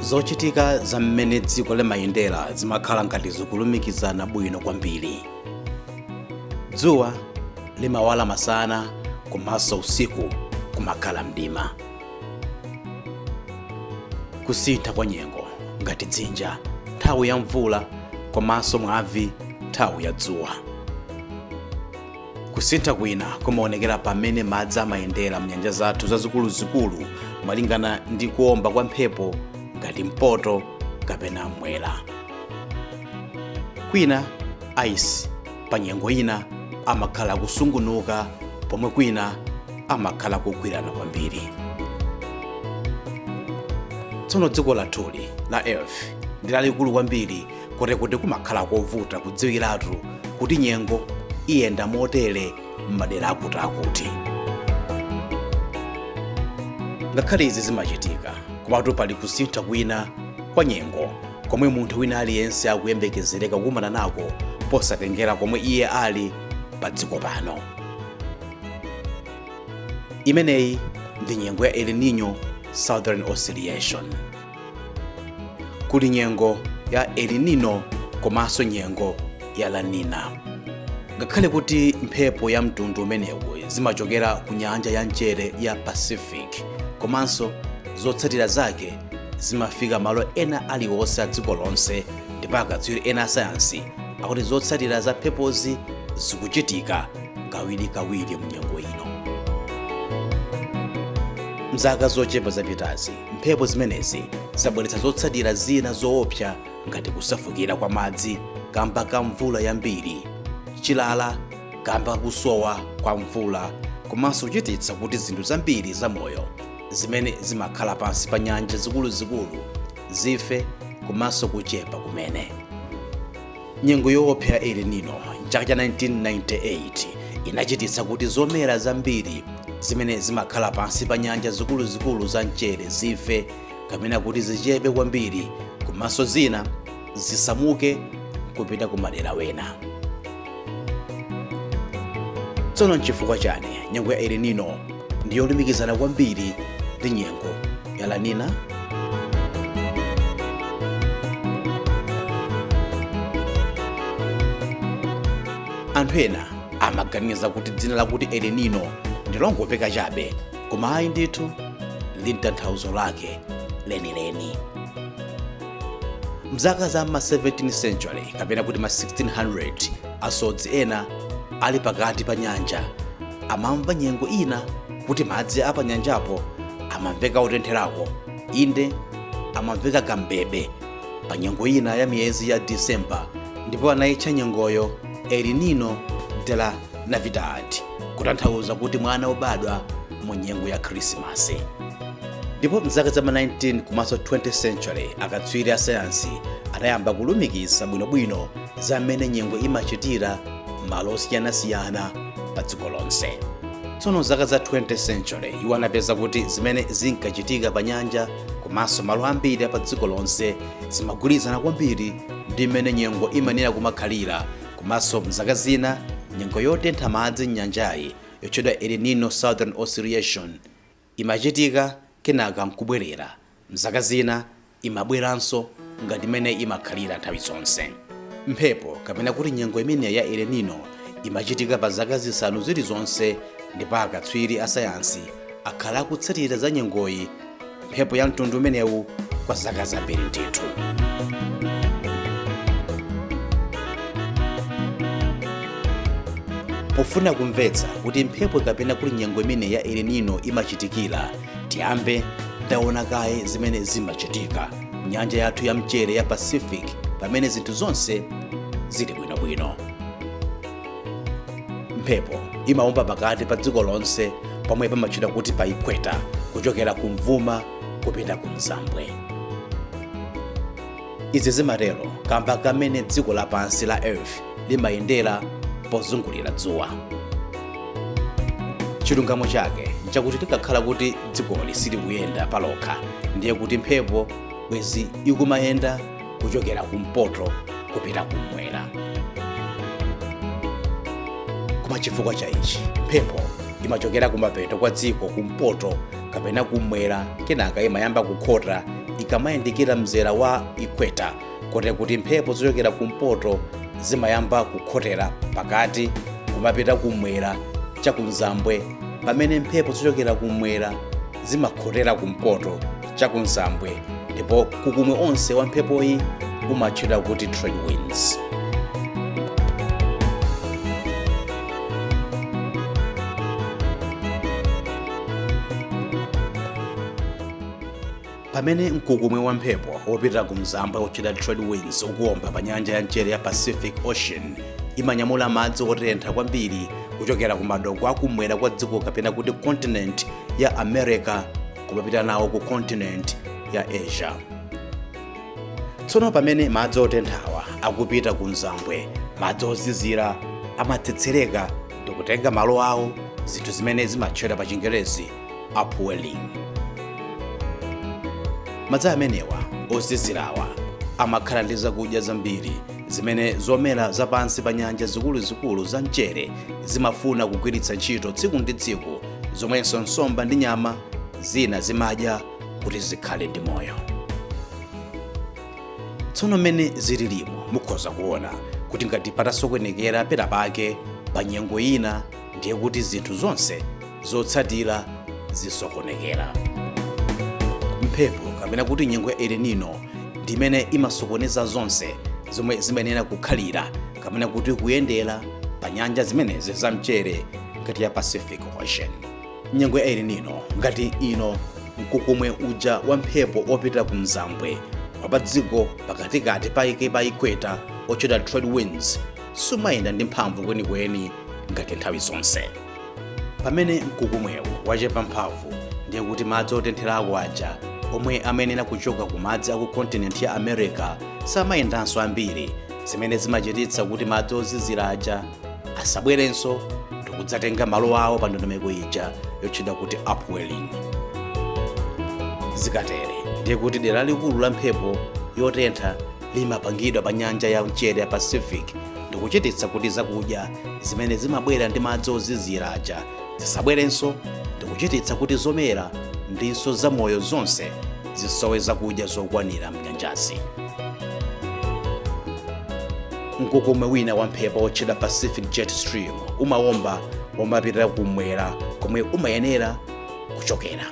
zochitika za mmene dziko limayendera zimakhala ngati zikulumikizana bwino kwambiri dzuwa limawala masana komanso usiku kumakhala mdima kusintha kwa nyengo ngati dzinja nthawi ya mvula komanso mwavi nthawi ya dzuwa kusintha kwina kumaonekera pamene madzi amayendera mnyanja zathu zazikuluzikulu malingana ndi kuomba kwa mphepo ngati mpoto kapena mwera kwina ice pa nyengo ina amakhala kusungunuka pomwe kwina amakhala kugwirana kwambiri tsono dziko lathuli la earth ndi lalikulu kwambiri koti kuti kumakhala kovuta kudziwiratu kuti nyengo iyenda motere m'madera akutiakuti ngakhale izi zimachitika komatu pali kusintha kwina kwa nyengo komwe munthu wina aliyense akuyembekezereka kukumana nako posatengera komwe iye ali pa dziko pano imeneyi ndi nyengo ya el nino southern oscillation kuli nyengo ya el nino komanso nyengo ya la nina ngakhale kuti mphepo ya mtundu umenewu zimachokera ku nyanja ya mchere ya pacific komano zotsatira zake zimafika malo ena aliwonse a dziko lonse ndipo akatswiri ena asayansi akuti zotsatira za mphepozi zikuchitika kawirikawiri mu nyengo ino mzaka zochepa zapitazi Mphepo zimenezi zabweretsa zotsatira zina zoopsa ngati kusefukira kwa madzi kamba ka mvula yambiri, chilala kamba ka kusowa kwa mvula komanso kuchititsa kuti zinthu zambiri zamoyo zimene zimakhala pansi pa nyanja zikuluzikulu zife komanso kuchepa kumene. Nyengo yoopsa ya El Nino m'chaka cha 1998 inachititsa kuti zomera zambiri zimene zimakhala pansi pa nyanja zikuluzikulu za mchere zife kapena kuti zichepe kwambiri komanso zina zisamuke kupita ku madera wena. Tsono n'chifukwa chani nyengo ya El Nino ndi yolumikizana kwambiri ndi nyengo ya La Nina. anthu ena amaganiza kuti dzina lakuti El Nino ndilongopeka chabe koma ayi ndithu lili ndi tanthauzo lake lenileni mzaka za ma 17th century kapena kuti ma 1600 asodzi ena ali pakati pa nyanja amamva nyengo ina kuti madzi a panyanjapo amamveka otentherako inde amamveka kambebe pa nyengo ina ya miyezi ya disemba ndipo anayitcha nyengoyo El Nino de la navidad kutanthauza kuti mwana wobadwa mu nyengo ya khrisimasi ndipo mzaka za ma 19 komanso 20 century akatswiri a sayansi anayamba kulumikiza bwinobwino za mmene nyengo imachitira m'malo osiyanasiyana pa dziko lonse tsono zaka za 20 century iwo anapeza kuti zimene zinkachitika pa nyanja komanso malo ambiri pa dziko lonse zimagwirizana kwambiri ndi mmene nyengo imanena kumakhalira komanso mzaka zina nyengo yotentha madzi m'nyanjayi yotchedwa El Nino Southern Oscillation Imachitika kenaka n'kubwerera. M'zaka zina imabweranso ngati mmene imakhalira nthawi zonse. Mphepo, kapena kuti nyengo imeneyi ya El Niño, imachitika pa zaka zisanu zilizonse ndipo akatswiri a sayansi akhala akutsatira za nyengoyi, mphepo ya mtundu umenewu, kwa zaka zambiri ndithu. pofuna kumvetsa kuti mphepo kapena kuti nyengo imene ya El Nino imachitikira tiyambe taona kaye zimene zimachitika nyanja yathu ya mchere ya pacific pamene zinthu zonse zili bwinobwino mphepo imawomba pakati pa dziko lonse pomwe pamatchedwa kuti pa ikweta kuchokera kumvuma kupita kumzambwe izi zimatero kamba kamene dziko lapansi la earth limayendera pozungulira dzuwa chilungamo chake nchakuti tikakhala kuti dzikoli silikuyenda palokha ndiye kuti mphepo bwezi ikumayenda kuchokera kumpoto kupita kumwera koma chifukwa cha ichi mphepo imachokera kumapeto kwa dziko kumpoto kapena kum'mwera kenaka imayamba kukhota ikamayandikira mzera wa equator kote kuti mphepo zochokera kumpoto zimayamba kukhotera pakati kumapita kum'mwera chakumzambwe pamene mphepo zochokera kum'mwera zimakhotera kumpoto chakumzambwe ndipo mkukumwe onse wa mphepoyi umatchedwa kuti trade winds pamene mkukumwe wa mphepo wopita ku mzambwe wotchedwa trade winds ukuwomba pa nyanja ya mchere ya pacific ocean imanyamula madzi otentha kwambiri kuchokera ku madoko akumwera kwa dziko kapena kuti continent ya america kumapita nawo ku continent ya asia tsono pamene madzi otenthawa akupita ku mzambwe madzi ozizira amatsetsereka ndikutenga malo awo zinthu zimene zimatchedwa pa chingerezi upwelling madzi amenewa ozizirawa amakhala ndi zakudya zambiri zimene zomera zapansi pa nyanja zikuluzikulu za mchere zimafuna kugwiritsa ntchito tsiku ndi tsiku zomwenso nsomba ndi nyama zina zimadya kuti zikhale ndi moyo tsono mmene zililimo mukhoza kuona kuti ngati patasokonekera pena pake pa nyengo ina ndiye kuti zinthu zonse zotsatira zisokonekera mphepo kapena kuti nyengo ya El Nino ndi imene imasokoneza zonse zomwe zimayenera kukhalira kapena kuti kuyendera pa nyanja zimenezi za mchere ngati ya pacific ocean nyengo ya El Nino ngati ino mkukumwe uja wa mphepo opita ku mzambwe wapa dziko pakatikati pa ike pa ikweta otchedwa trade winds sumayenda ndi mphamvu kwenikweni ngati nthawi zonse pamene mkukumwewu wachepa mphamvu ndiye kuti madzi otentherako aja omwe amayenera kuchoka ku madzi aku kontinenti ya america samayendanso ambiri zimene zimachititsa kuti madzi ozizira aja asabwerenso ndikudzatenga malo awo pa ndondomeko ija yotchedwa kuti upwelling zikatere ndiye kuti dera likulu la mphepo yotentha limapangidwa pa nyanja ya mchere ya pacific ndikuchititsa kuti zakudya zimene zimabwera ndi madzi ozizira aja zisabwerenso ndikuchititsa kuti zomera ndinso zamoyo zonse zisowe zakudya zokwanira mnyanjazi mkukumwe wina wa mphepo wotchedwa pacific jet stream umawomba womapitira kumwera komwe umayenera kuchokera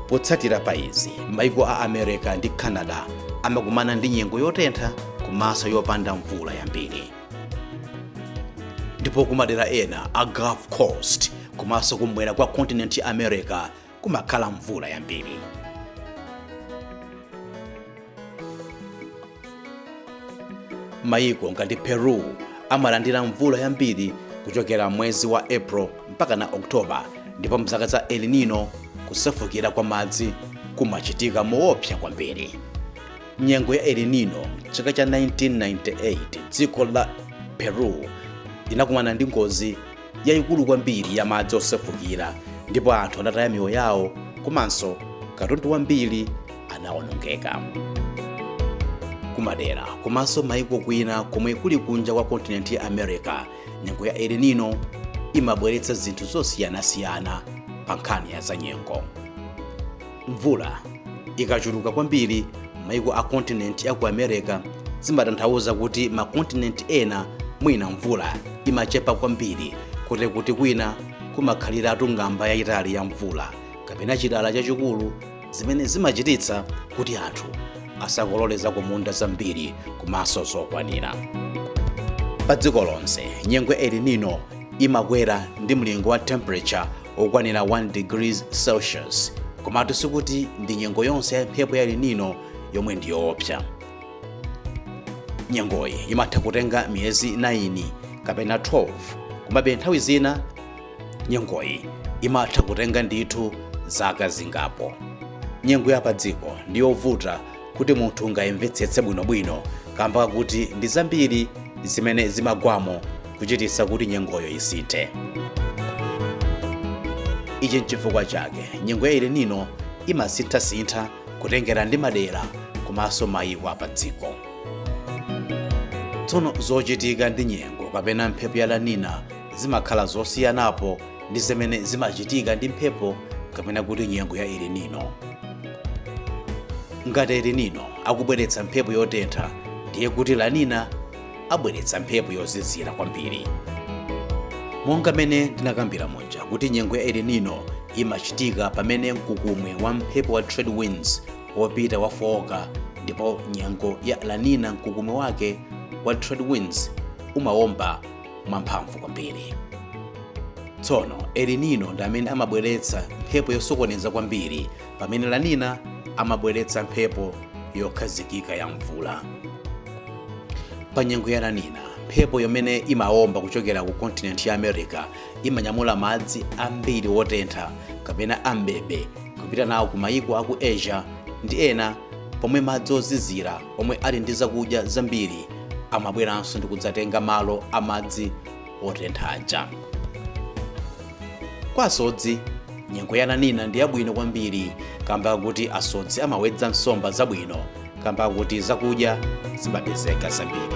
potsatira pa izi maiko a america ndi canada amakumana ndi nyengo yotentha komanso yopanda mvula yambiri ndipo kumadera ena a gulf coast komanso kumwera kwa kontinenti ya america kumakhala mvula yambiri. Mayiko ngati Peru amalandira mvula yambiri kuchokera mwezi wa April mpaka na October ndipo mzaka za El Nino kusefukira kwa madzi kumachitika moopsa kwambiri. Nyengo ya El Nino chaka cha 1998 dziko la Peru linakumana ndi ngozi yayikulu kwambiri ya madzi osefukira ndipo anthu anataya miyoyo yawo komanso katundu wambiri anawonongeka kumadera komanso maiko kwina komwe kuli kunja kwa kontinenti ya america nyengo ya El Nino imabweretsa zinthu zosiyanasiyana pa nkhani ya zanyengo mvula ikachuluka kwambiri maiko a kontinenti ya ku america zimatanthauza kuti makontinenti ena mwina mvula imachepa kwambiri koti kuti kwina kumakhaliratu ng'amba yayitali ya mvula kapena chilala chachikulu zimene zimachititsa kuti anthu asakolole zakumunda zambiri komanso zokwanira pa dziko lonse nyengo ya El Nino imakwera ndi mlingo wa temperature okwanira 1 degrees celsius komatu sikuti ndi nyengo yonse ya mphepo ya El Nino yomwe ndi yoopsa nyengoyi imatha kutenga miyezi 9 kapena 12 komabe nthawi zina nyengoyi imatha kutenga ndithu zaka zingapo nyengo ya padziko ndi yovuta kuti munthu ungayimvetsetse bwinobwino kamba kakuti ndi zambiri zimene zimagwamo kuchititsa kuti nyengoyo isinthe ichi nchifukwa chake nyengo ya El Nino imasinthasintha kutengera ndi madera komanso mayiko apa dziko tsono zochitika ndi nyengo kapena mphepo ya La Nina zimakhala zosiyanapo ndi zimene zimachitika ndi mphepo kapena kuti nyengo ya El Nino ngati El Nino akubweretsa mphepo yotentha ndiye kuti La Nina abweretsa mphepo yozizira kwambiri monga mene ndinakambira muja kuti nyengo ya El Nino imachitika pamene mkukumwe wa mphepo wa trade winds wopita wafooka ndipo nyengo ya La Nina mkukumwe wake wa trade winds umawomba mwamphamvu kwambiri tsono El Nino ndi amene amabweretsa mphepo yosokoneza kwambiri pamene La Nina amabweretsa mphepo yokhazikika ya mvula pa nyengo ya La Nina mphepo yomwe imaomba kuchokera ku kontinenti ya america imanyamula madzi ambiri wotentha kapena ambebe kupita nawo ku mayiko aku asia ndi ena pomwe madzi ozizira omwe ali ndi zakudya zambiri amabweranso ndi kudzatenga malo a madzi otentha aja kwa asodzi nyengo ya La Nina ndi yabwino kwambiri kamba kakuti asodzi amawedza nsomba zabwino kamba kakuti zakudya zimapezeka zambiri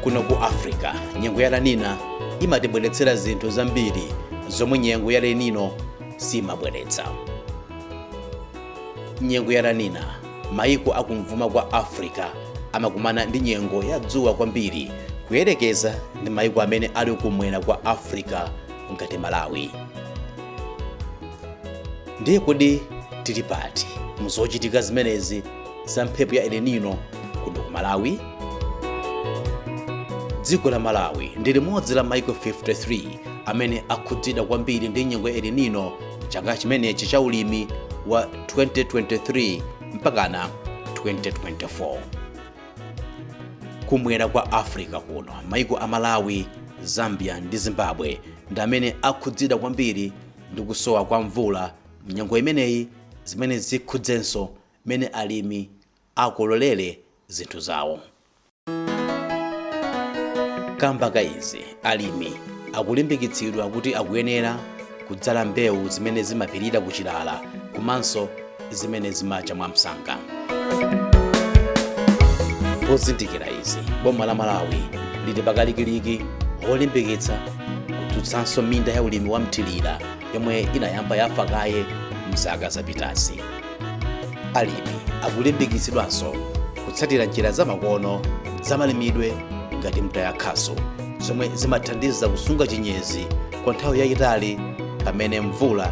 kuno ku africa nyengo ya La Nina imatibweretsera zinthu zambiri zomwe nyengo ya El Nino simabweretsa nyengo ya La Nina mayiko akumvuma kwa africa amakumana ndi nyengo ya dzuwa kwambiri kuyerekeza ndi mayiko amene ali kumwera kwa africa ngati malawi Ndiye kodi tili pati mu zochitika zimenezi za mphepo ya El Nino kuno ku Malawi? Dziko la Malawi ndi limodzi la maiko 53 amene akhudzidwa kwambiri ndi nyengo ya El Nino chaka chimenechi cha ulimi wa 2023 mpakana 2024. Kumwera kwa Africa kuno, maiko a Malawi, Zambia ndi Zimbabwe ndi amene akhudzidwa kwambiri ndi kusowa kwa mvula mnyengo imeneyi zimene zikhudzenso mmene alimi akololere zinthu zawo kamba ka izi alimi akulimbikitsidwa kuti akuyenera kudzala mbewu zimene zimapirira kuchilala komanso zimene zimacha mwamsanga pozindikira izi boma la malawi lili pakalikiliki olimbikitsa kudzutsanso minda ya ulimi wa mthirira yomwe inayamba yafa kaye mzaka zapitazi alimi akulimbikitsidwanso kutsatira njira zamakono zamalimidwe ngati mtayakhasu zomwe zimathandiza kusunga chinyezi kwa nthawi yayitali pamene mvula